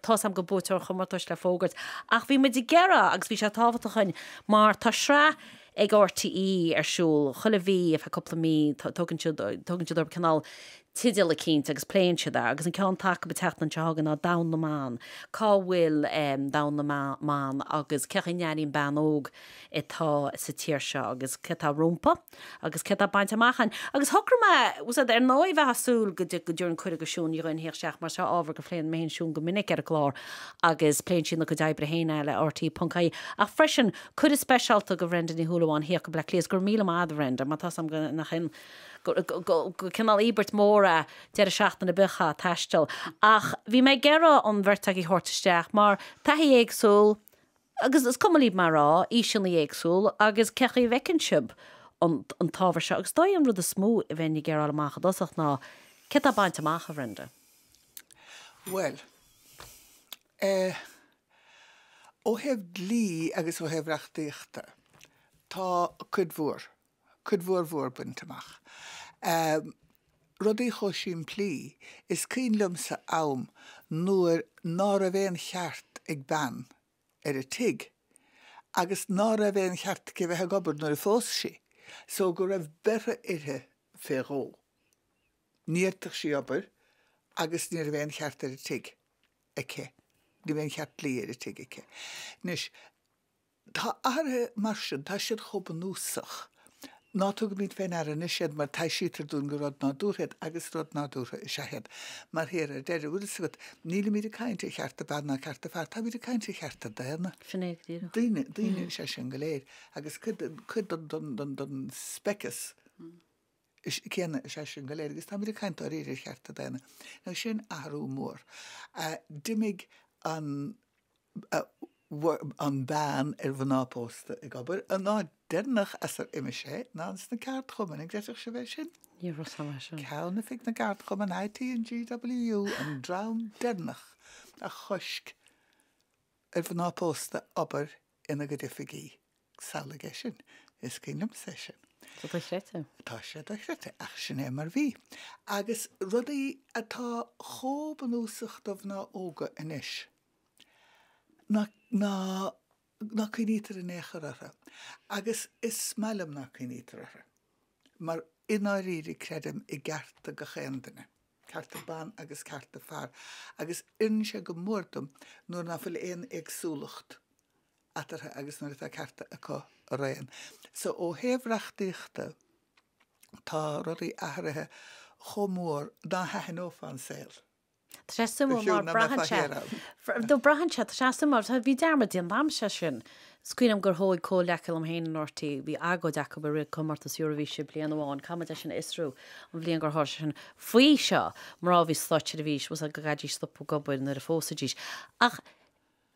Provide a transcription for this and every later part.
Tá 's agam go bhfuil buaiteoir an chomórtais le fógairt ach bhí muid ag iarraidh agus bhí sé tábhachtach dhúinn mar tá sraith ag RTÉ ar siúl chuile mhí ar feadh cúpla mí, tugann siad, tugann siad orthu cineál teideal eicínt agus pléann siad é agus an ceann atá acu an tseachtain seo chugainn ná Domhan na mBan, cá bhfuil domhan na mban agus cén chaoi a n-airíonn bean óg atá sa tír seo agus céard atá rompu? Agus céard tá bainte amach ann? Agus shocraigh mé, is dóigh, ar ndóigh, bheith ag súil go dtabharfainn cuireadh go Shiún Ní Dhuinn thíocht isteach mar seo ábhar a phléann mé féin is Siún go minic ar an gclár agus pléann sí ina cuid oibre féin eile ar RTÉ.ie ach freisin cuireadh speisialta go Bhrenda Ní Shúilleabháin thíocht go Bleá Cliath is go raibh míle maith agat a Bhrenda mar tá 's agam gur, gur cineál íobairt mór ag deireadh seachtaine a bheith ag taisteal ach bhí mé ag iarraidh an bheirt agaibh a thabhairt isteach mar taithí éagsúil Agus mura cuma libh mé a rá, aoiseanna éagsúla agus cén chaoi a bhfeiceann sibh an t-ábhar seo. Agus is dóigh an rud is mó a bheinn ag iarraidh a fháil amach i dtosach ná céard atá bainte amach, a Bhrenda? Bhuel. Eh. ó thaobh dlí agus ó thaobh reachtaíochta, tá cuid mhór cuid mhór mhór bainte amach. Rudaí chomh simplí, is cuimhin liomsa am nuair ná raibh aon cheart ag bean ar an tigh agus ná raibh aon cheart aici a bheith ag obair nuair a phós sí so go raibh beirthe uirthi fé dhó. Ní fhéadfadh sí obair agus ní raibh aon cheart ar an tigh aici, ní raibh aon cheart dlí ar an tigh aici. Anois. Tá athruithe mar sin, tá siad chomh bunúsach. Ná tugaimid fén aire anois iad mar taibhsítear dúinn gur rud nádúrtha iad agus rud nádúrtha is ea iad. Mar thiar, ar deireadh, bhfuil fhios agat, nílimid ag caint ar chearta ban ná cearta fear, táimid ag caint ar chearta daonna. Sin é go díreach. Daoine, daoine is ea sinn go léir agus cuid den, cuid den, den, den, den speiceas. céanna is ea sinn go léir, agus táimid ag caint dáiríre ar chearta daonna, now sin athrú mór. D'imigh an. an ban ar mhná pósta ag obair, an áit deireanach as ar imigh sé ná ins na ceardchumainn, an gcreidfeadh sibh é sin? Ní raibh a fhios agam é sin. Ceannoifig na gceardchumann IT and GWU an dream deireanach a choisc ar mhná pósta obair in a gcuid oifigí. Samhlaigh é sin. Is cuimhin liomsa é sin. Tá sé dochreidte. Tá sé dochreidte, ach sin é mar bhí. Agus rudaí atá chomh bunúsach do mhná óga anois, ná, ná, ná cuimhnítear in aon chor orthu. Agus is maith liom ná cuimhnítear orthu. Mar i ndáiríre creidim i gcearta gach aon duine. cearta ban agus cearta fear agus oireann sé go mór dom nuair ná fuil aon éagsúlacht eatarthu agus nuair atá cearta acu araon. So ó thaobh reachtaíochta tá rudaí athraithe chomh mór ná haithneofá an saol. Tá sé suimiúil mar braitheann sé, braitheann sé, tá sé suimiúil mar bhí dearmad déanta agamsa sin. Smaoiním gur thóig comhleacaithe liom féin in rte, bhí agóid acu i rith comórtas Eoraifíse bliain amháin, caithfimid é sin a fhiosrú, an bhliain gur tharla sé sin. Faoi seo, mná a bhí sa Stáit Seirbhís, agus go gcaithidís stopadh ag obair nuair a phósaidís. Ach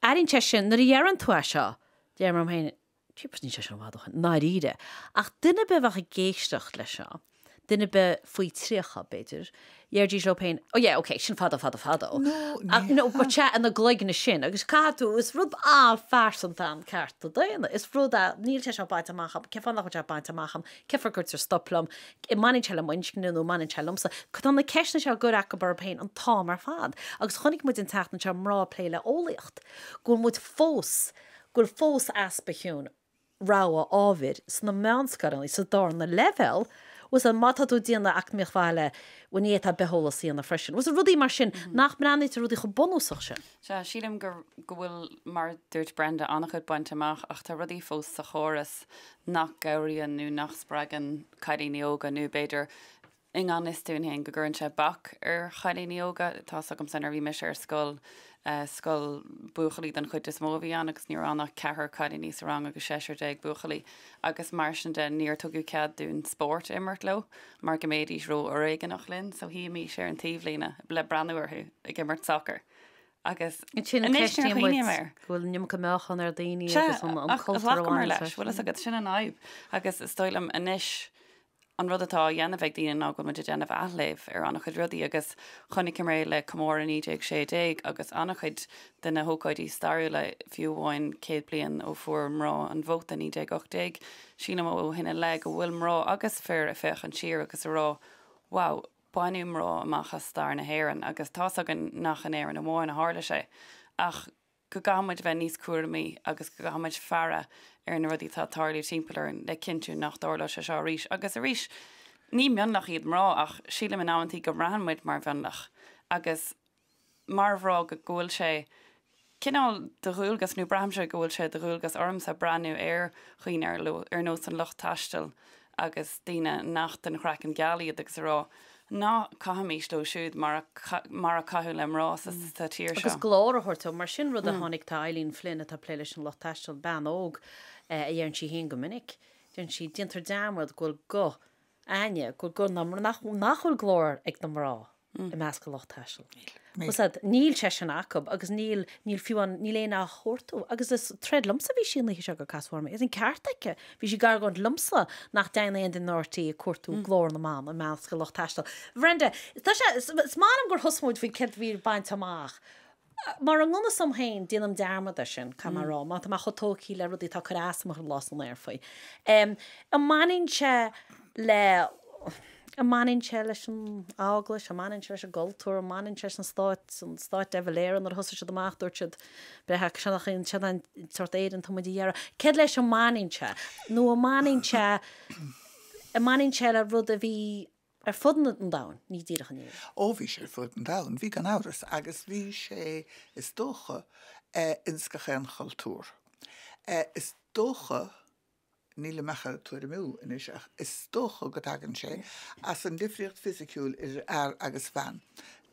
airíonn sé sin, nuair a dheireann tú é seo, deirim liom féin, jeepers níl sé sin i bhfad ó shin, i ndáiríre. Ach duine ar bith a bheadh ag éisteacht le seo, duine ar bith faoi 30, b'fhéidir, deiridís leo féin, oh yeah, okay, sin fadó fadó fadó. No, but sea, sna cloigne sin agus caithfidh tú, is rud an-phearsanta é cearta daonna, is rud a, níl sé seo bainte amach agam, cén fáth nach bhfuil sé bainte amach agam, cén fáth a gcuirtear stop liom, an mbaineann sé le m'inscne nó an mbaineann sé liomsa? Tá na ceisteanna seo á gcur acu orthu féin an t-am ar fad agus chonaic muid an tseachtain seo, mná ag plé le eolaíocht, go bhfuil muid fós, go bhfuil fós easpa, tá a fhios agat. rogha ábhair sna meánscoileanna sa darna leibhéal agus má tá tú ag déanamh eacnamaíocht bhaile b'éigean duit bitheolas a dhéanamh freisin agus rudaí mar sin nach mbreathnaítear rudaí chomh bunúsach sin. Sea, sílim go bhfuil, mar a dúirt Brenda, an-chuid bainte amach ach tá rudaí fós sa chóras nach gcabhraíonn nó nach spreagann cailíní óga nó b'fhéidir, i ngan fhios dúinn féin, go gcuireann sé bac ar chailíní óga. Tá's agamsa nuair a bhí mise ar scoil, scoil buachaillí den chuid is mó a bhí ann agus ní raibh ann ach ceathrar cailíní sa rang agus seisear déag buachaillí agus mar sin de níor tugadh cead dúinn spórt a imirt leo mar go mbéidís ró-fhoréigneach linn so shuímís ar an taobhlíne le breathnú orthu ag imirt sacar agus ansin ceistíonn muid go bhfuil an iomarca meáchan ar daoine Sea, agus an cultúr a bhaineann leis, bhfuil fhios agat, sin an fhadhb agus is dóigh liom anois An rud atá á dhéanamh ag daoine ná go bhfuil muid ag déanamh athléamh ar an-chuid rudaí agus chonaic muid é le comóradh 1916 agus an-chuid de na hócáidí stairiúla fiú amháin céad bliain ó fuair mná an vóta 1918. Sílim ó shin i leith go bhfuil mná agus fir ag féachaint siar agus ag rá wow, baineadh mná amach as stair na hÉireann agus tá's againn nach in Éirinn amháin a tharla sé ach go gcaithfimid bheith níos cúramaí agus go gcaithfimid faire ar na rudaí atá ag tarlú timpeall orainn le cinntiú nach dtarlóidh sé seo arís agus arís. Ní mionlach iad mná ach sílim in amanntaí go mbraitheann muid mar mhionlach agus mar mhrá go bhfuil sé cineál de dhualgas nó braithimse go bhfuil sé de dhualgas ormsa breathnú ar dhaoine ar nós an lucht taistil agus daoine nach den chraiceann geal iad agus a rá ná caithfimis leo siúd mar a caitheadh le mná sa sa tír seo. Agus glór a thabhairt dóibh. Mar sin rud a tháinig tá Eileen Flynn atá ag plé leis an Lucht Taistil, bean óg a deireann sí féin go minic, deir sí déantar dearmad go bhfuil go, aon, go bhfuil go, nach bhfuil glór ag na mná. i measc an lucht taistil. Níl sé sin acu agus níl fiú amháin, níl éinne á chuartú agus is ag troid liomsa a bhí sí an oíche seo gur casadh orm í is an ceart aici. Bhí sí ag argóint liomsa nach dtéann aon duine in RTÉ ag cuartú Glór na mBan i measc an lucht taistil. Brenda, is maith liom gur thosaigh muid faoi céard a bhí bainte amach. Mar i ngan fhios dom féin, déanaim dearmad ar sin, caithfidh mé a rá, mar tá mé chomh tógtha le rudaí atá ag cur as dom ar an lá san aer faoi. An mbaineann sé le, an mbaineann sé leis an Eaglais, an mbaineann sé leis an gcultúr, an mbaineann sé leis an Stát, an Stát de Valera nuair a thosaigh siad amach dúirt siad, beidh seo nach í an, seo an sórt Éireann atá muid ag iarraidh. Céard leis a mbaineann sé? Nó an mbaineann sé, an mbaineann sé le rud a bhí. ar fud an domhain, ní díreach in Éirinn. Ó, bhí sé ar fud an domhain, bhí gan amhras, agus bhí sé, is dócha, ins gach aon chultúr. Is dócha, nílim ach a' tuairimiú anois, ach is dócha go dtagann sé as an difríocht fisiciúil idir fhear agus bhean.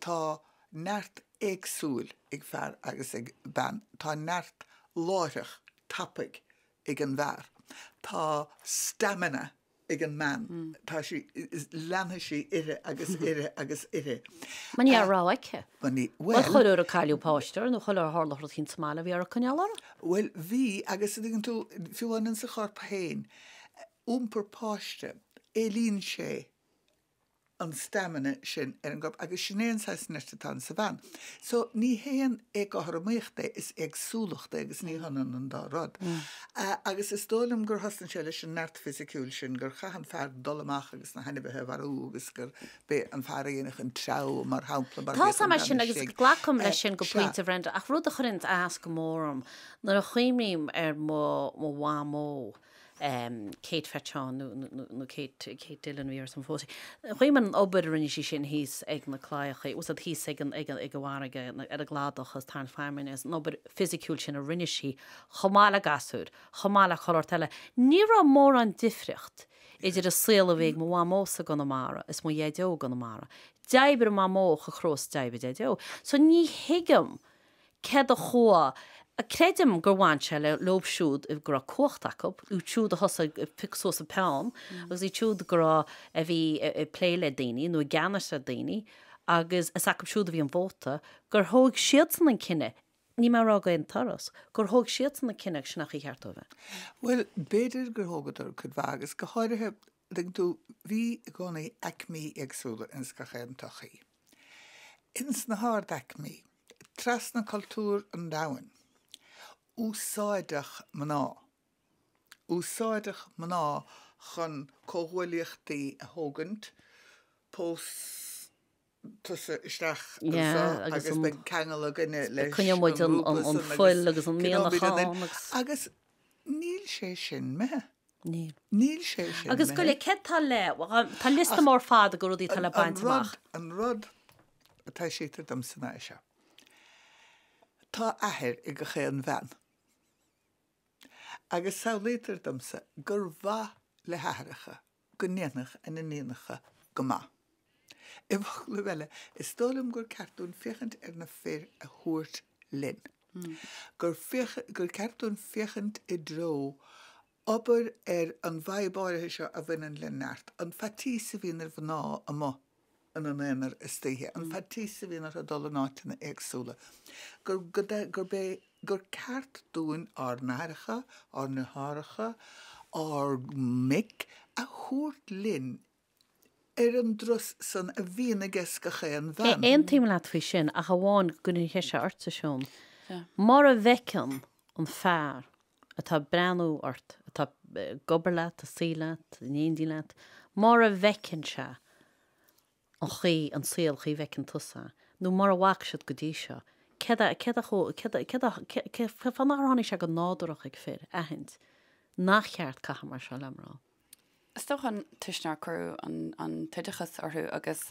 Tá neart éagsúil ag fear agus ag bean. Tá neart láithreach, tapaidh ag an bhfear. Tá stamina ag an mbean. Tá sí, leanfaidh sí uirthi agus uirthi agus uirthi. Mar ní raibh rogha aici. Mar ní, bhuel. Ba chuma ar cailleadh páiste uirthi nó chuma ar tharla rud eicínt sa mbaile, bhí uirthi coinneáil uirthi. Bhuel, bhí agus an dtuigeann tú, fiú amháin sa chorp féin, iompar páiste, éilíonn sé an stamina sin ar an gcorp agus sin é an saghas nirt atá insa bhean. So ní haon éagothromaíocht é, is éagsúlacht é agus ní hionann an dá rud. Agus is dóigh liom gur thosnaigh sé leis an neart fisiciúil sin, gur chaith an fear dul amach agus na hainmhithe a mharú agus gurb é an fear a dhéanfadh an treabhadh mar shampla mar Tá's agam sin agus glacam leis sin go pointe Brenda ach rud a chuireanns as go mór orm nuair a chuimhním ar mo mhamó Kate Faton nó Kate Dillon a bhí uirthi sul má phós sí, chonaic mé an obair a rinne sí sin thíos ag na claíochaí, tá's agat, thíos ag an bhfarraige, ar an gcladach, is ag tarraingt feamainne, agus an obair fisiciúil sin a rinne sí chomh maith le gasúir, chomh maith le chuile shórt eile. Ní raibh mórán difríocht idir an saol a bhí ag mo mhamósa i gConamara is mo dhaideo i gConamara. D'oibrigh mamó chomh crua is a d'oibrigh daideo. So ní thuigim. céard a chuaigh a. Creidim gur bhain sé le leob siúd go raibh cumhacht acu, iad siúd a thosaigh ag piocadh suas an peann agus iad siúd go raibh, a bhí ag plé le daoine nó i gceannas ar daoine agus is acu siúd a bhí an vóta, gur thóg siadsan an cinneadh, níl mé ag rá d'aon turas, gur thóg siadsan an cinneadh agus sin an chaoi cheart dóibh é. Bhuel, b'fhéidir gur thógadar cuid mhaith agus go háirithe Tuigeann tú, bhí i gcónaí aicmí éagsúla ins gach aon tsochaí. Ins na hardaicmí, trasna cultúr an domhain, úsáideadh mná. Úsáideadh mná chun comhghuaillíochtaí a thógaint, pósadh. tusa isteach anseo agus beidh ceangal againne leis coinneoidh muid an fuil agus an mianach ann agus níl sé sin imithe. Níl. Níl sé sin. Agus go le céad tá le tá liosta mór fada de rudaí atá le baint amach. An rud a taibhsítear domsa ná é seo. Tá athair ag gach aon bhean agus samhlaítear domsa gur mhaith le haithreacha go ndéanfadh a n-iníonacha go maith. I bhfoclaibh eile, is dóigh liom gur ceart dúinn féachaint ar na fir a thabhairt linn. Gur gur ceart dúinn féachaint i dtreo obair ar an bhfadhb áirithe seo a bhaineann le neart, an faitíos a bhíonn ar mhná amuigh, ina n-aonar istoíche, an faitíos a bhíonn orthu dul in áiteanna éagsúla, gur, go, that, gurb é, gur ceart dúinn ár n-aithreacha, ár ndeartháireacha, ár mic a thabhairt linn ar an dturas san a bhíonn aiges gach aon bhean. Aontaím leat faoi sin ach amháin go gcuirfidh sé ortsa, Siún. Mura bhfeiceann an fear atá ag breathnú ort, atá ag obair leat, ag suí leat, in éindí leat, mura bhfeiceann sé an chaoi, an saol an chaoi a bhfeiceann tusa, nó mura bhfaca siad go dtí seo, céard a, céard a chu, céard a, céard a, céard, cén fáth nár tháinig sé go nádúrach ag fir aithint nár cheart caitheamh mar seo le mná? Is dócha an toisc nár cuireadh an t-oideachas orthu agus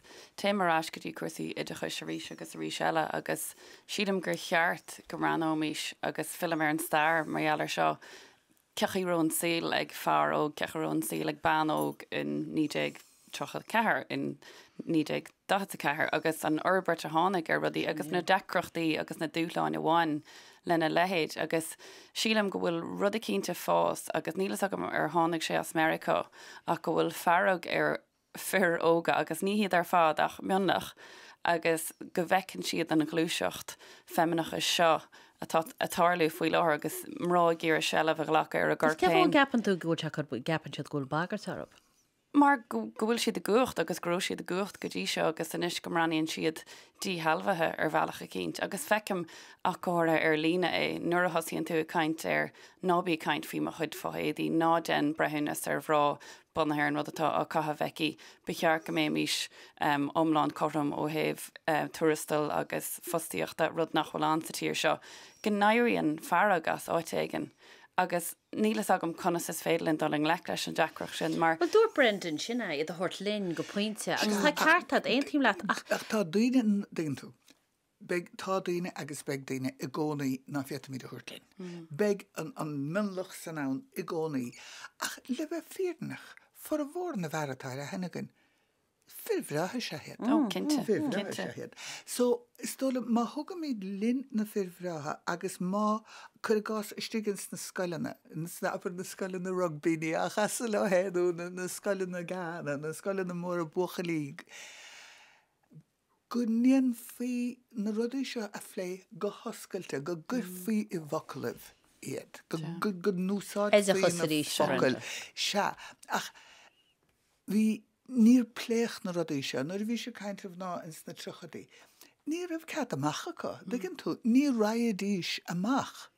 téim ar ais go dtí cúrsaí oideachais arís agus arís eile agus sílim gur cheart go mbreathnóimís agus fillim ar an stair mar gheall ar seo, cén chaoi a raibh an saol ag fear óg, cén chaoi a raibh an saol ag bean óg in 1934, in 19. 44, agus an fhorbairt a tháinig ar rudaí agus na deacrachtaí agus na dúshláin a bhain lena leithéid agus sílim go bhfuil rud eicínt a' fás agus níl fhios agam ar tháinig sé as Meiriceá ach go bhfuil fearg ar fir óga agus ní hiad ar fad ach mionlach agus go bhfeiceann siad an ghluaiseacht feimineachais seo atá a' tarlú faoi láthair agus mná ag iarraidh seilbh a ghlacadh ar a gcoirp féin. Cén fáth a gceapann tú go bhfuil sé go gceapann siad go bhfuil bagairt orthu? mar go bhfuil siad i gcumhacht agus go raibh siad i gcumhacht go dtí seo agus anois go mbreathnaíonn siad díshealbhaithe ar bhealach eicínt agus feicim ach go háirithe ar líne é, nuair a thosaíonn tú ag caint ar ná bí ag caint faoi mo chuid fo-éadaí, ná déan breithiúnas ar mhná bunaithe ar an rud atá á caitheamh aici, ba cheart go mbéimís iomlán cothrom ó thaobh tuarastail agus fostaíochta, rud nach bhfuil ann sa tír seo, go n-éiríonn fearg as áit éigin agus. Níl fhios agam conas is féidir linn dul i ngleic leis an deacracht sin mar. Bhuel, dúirt Brendan sin é, iad a thabhairt linn go pointe agus tá ceart agat, aontaím leat ach. Ach tá daoine, tuigeann tú, beidh, tá daoine agus beidh daoine i gcónaí ná féadfaimid a thabhairt linn. Beidh an mionlach san ann i gcónaí ach le bheith fírinneach, formhór na bhfear atá ar aithne againn, Is fir bhreátha is ea iad. Oh, cinnte. Fir bhreátha is ea iad. So, is dóigh liom, má thugaimid linn na fir bhreátha agus má, cuir i gcás, istigh ins na scoileanna, ins na, abair, na scoileanna rugbaí, ní, á chasadh le héinne, nó na, na scoileanna GAA, na scoileanna móra buachaillí, go ndéanfaí na rudaí seo a phlé go hoscailte, go gcuirfí i bhfoclaibh iad, go, go, go n-úsáidfí na focail. Sea. Ach bhí, níor pléadh na rudaí seo. Nuair a bhíos ag caint ar mhná ins na tríochaidí, ní raibh cead amach acu, an dtuigeann tú? Ní raghaidís amach.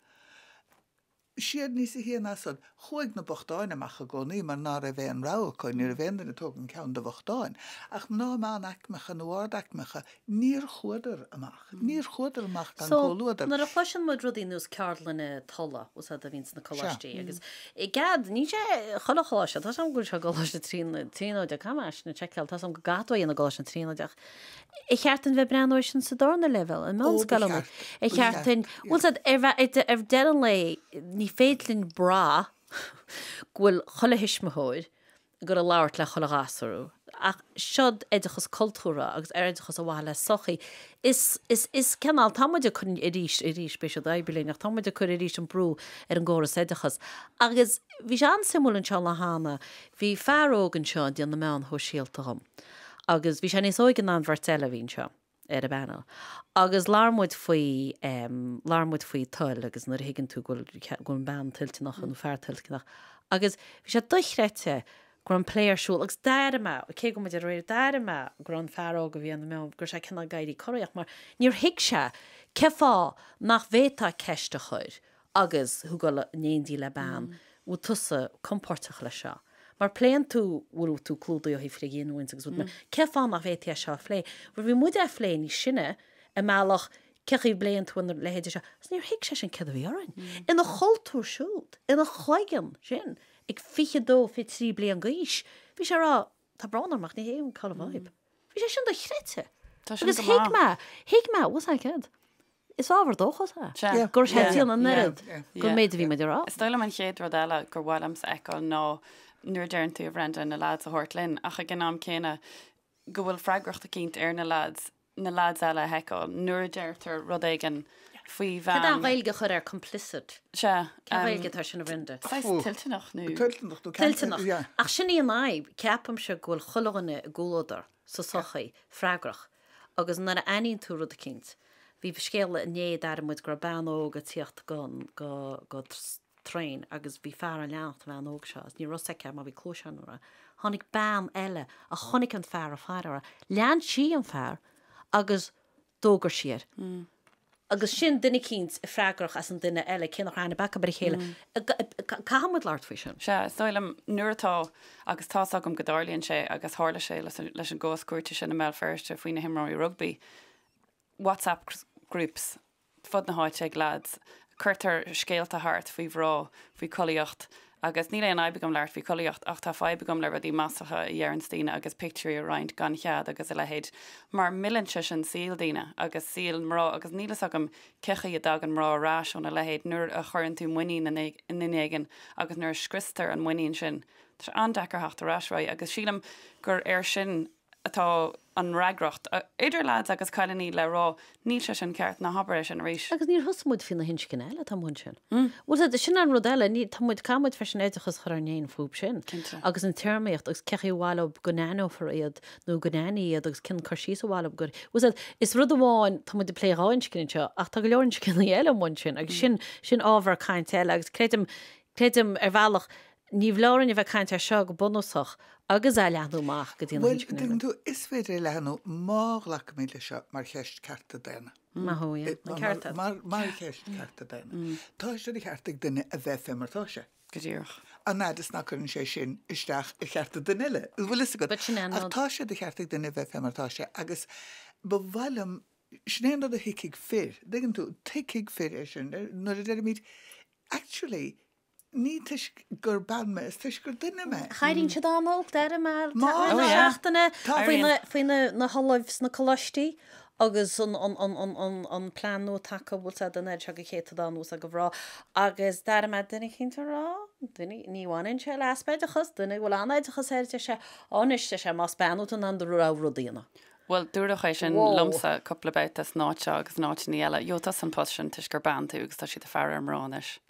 siad níos a haon as an, chuaigh na bochtáin amach i gcónaí mar ná raibh aon rogha acu, ní raibh aon duine ag tógaint ceann de bhochtáin. Ach mná meánaicmeacha nó ardaicmeacha, Níor chuadar amach. Níor chuadar amach gan comhluadar. So, nuair a chloiseann muid rudaí nós ceardlanna tola, bhfuil a fhios agat, a bhíonn sna Sea. coláistí agus i gcead, níl sé i chuile choláiste, tá a fhios agam go bhfuil sé i gColáiste na Tríonóide, caithfidh mé é sin a sheiceáil, tá a fhios agam go gcaithfidh tú é a dhéanamh i gColáiste na Tríonóide. Ar cheart dúinn bheith ag breathnú ar sin sa darna leibhéal, i Ó, ba meánscoileanna? cheart. Ar Ba cheart cheart, dúinn, yeah. bhfuil a fhios agat, ar bheith, ar, ag deireadh an lae, ní féidir linn brath go bhfuil chuile thuismitheoir, goil ag labhairt le chuile ghasúr fúthu. Ach seod oideachas cultúrtha agus oideachas ar mhaithe le sochaí. Is, is, is cineál, tá muid ag cur arís, arís, beidh siad oibrithe linn, ach tá muid ag cur arís an brú ar an gcóras oideachas. Agus bhí sé an-suimiúil anseo an lá cheana, bhí fear óg anseo ag déanamh na meáin shóisialta dhom. Agus bhí sé níos óige ná an bheirt eile a bhí anseo. ar an bpanel agus labhair muid faoi em labhair muid faoi toil agus nuair a thuigeann tú go bhfuil go bhfuil an bean toilteanach nó fear toilteanach agus bhí sé dochreidte go raibh an plé ar siúl agus d'airigh mé cé go raibh muid ar an aer d'airigh mé go raibh an fear óg a bhí ann em go raibh sé cineál ag éirí corraitheach mar níor thuig sé cén fáth nach bhféadfá ceist a chur agus thú ag dul in éindí le bean, bhfuil tusa compóirteach leis seo? Mar pléann tú, bhfuil tú clúdaithe ó thaobh frithghiniúint agus rud mar, cén fáth nach bhféadfaí é seo a phlé? Bhuel, bhí muide ag plé níos sine, i mbealach, cén chaoi a bpléann tú an leithéid seo? Agus níor thuig seisean céard a bhí orainn. Ina chultúr siúd, ina chloigeann sin, ag 22, 23 bliain d'aois, bhí sé a rá, Tá brón orm ach ní thuigim cá bhfuil an fhadhb. Bhí sé sin dochreidte. Tá sin go maith. Agus thuig mé, thuig mé, what I said. Is ábhar dóchais é. Sea. Yeah. Gur Yeah. theastaíonn an oiread Yeah. Yeah. gur méid a bhí muid a rá. Is dóigh liom an chéad rud eile gur mhaith liomsa a fheiceáil ná nuair a deireann tú a Bhrenda, na lads a thabhairt linn ach ag an am céanna go bhfuil freagracht eicínt ar na lads na leaids eile a sheiceáil nuair a deirtear rud éigin faoi bhean. Cad é an Ghaeilge a chur ar complicit? Sea. Cén Ghaeilge atá ar sin, a Bhrenda? Saghas toilteanach nó. Toilteanach nó ceanteidil. Toilteanach. Yeah. Ach sin í an fhadhb, ceapaimse, go bhfuil chuile dhuine i gcomhluadar, sa sochaí, freagrach. Agus nuair a aithníonn tú rud eicínt. Bhí scéal inné, d'airigh muid, go raibh bean óg ag tíocht go, go, go, traein agus bhí fear ag leanacht an bhean óg seo agus ní raibh fhios aici mar bhí cluasáin uirthi, tháinig bean eile a chonaic an fear ag faire uirthi. Lean sí an fear agus d'fhógair sí air. Agus sin duine eicínt a freagrach as an duine eile, cé nach raibh aithne acu ar a chéile. Caithfidh muid labhairt faoi sin. Sea, is dóigh liom, nuair atá, agus tá's agam go dtarlaíonn sé agus tharla sé leis an gcás cúirte sin i mBéal Feirste faoi na himreoirí rugbaí, whatsapp groups, fud na háite ag leaids. Cuirtear scéalta thart faoi mhná, faoi chollaíocht agus níl aon fhadhb agam labhairt faoi chollaíocht ach tá fadhb agam le rudaí maslacha a dheireanns daoine agus pictiúirí a roinnt gan chead agus a leithéid mar milleann sé sin saol daoine agus saol mná agus níl fhios agam cé chaoi a dtagann mná ar ais óna leithéid nuair a chuireann tú muinín i nduine éigin agus nuair a scriostar an muinín sin tá sé an-deacair theacht ar ais uaidh agus sílim gur ar sin a atá an fhreagracht, idir leaids agus cailiní, le rá níl sé sin ceart, ná habair é sin arís. Agus níor thosaigh muid faoi na hinscní eile atá amuigh ansin. Bhuel sea, sin an rud eile, níl, tá muid, caithfidh muid freisin oideachas a chur orainn fhéin fúb sin. Cinnte. Agus an téarmaíocht agus cé chaoi ar mhaith leob go n-aithneofar iad nó go n-aithní iad agus cén cur síos ar mhaith leob gur, bhuel sea, is rud amháin, tá muid ag plé dhá inscne anseo ach tá go leor inscní eile amuigh ansin agus sin, sin ábhar cainte eile agus creidim, creidim ar bhealach, níorbh fholáir dúinn a bheith ag caint air seo go bunúsach agus é a leathnú amach go dtí na Bhuel, hinscne. tuigeann tú, is féidir é a leathnú má ghlacaimid leis seo mar cheist cearta daonna. Maith thú, yeah. Na cearta. Mar cheist cearta daonna. Tá sé de cheart ag duine a bheith fé mar atá sé. Go díreach. An fhad is nach gcuireann sé sin isteach ar chearta duine eile, an bhfuil fhios agat? Sin é an rud. Ach tá sé de cheart ag duine a bheith fé mar atá sé agus ba mhaith liom, sin é an rud a thuigfidh fir, tuigeann tú, tuigfidh fir é sin nuair a deirimid actually, Ní toisc gur bean mé, is toisc gur duine mé. Chailín siad á n-olc d'airigh mé i rith na seachtaine faoi na hOllaimh sna coláistí agus an plean nua atá acu bhfuil siad ag iarraidh seo go céatadán uasal do mhná agus d'airigh mé duine eicínt ag rá duine ní bhaineann sé le easpa oideachais duine a bhfuil an-oideachas air deir sé á anois deir sé más bean tú in ann do rogha rud a dhéanamh. Bhuel dúradh é sin liomsa cúpla babhta san áit seo agus in áiteanna eile, ó tá tú san post sin toisc gur bean tú agus tá siad ag faire ar na mná anois.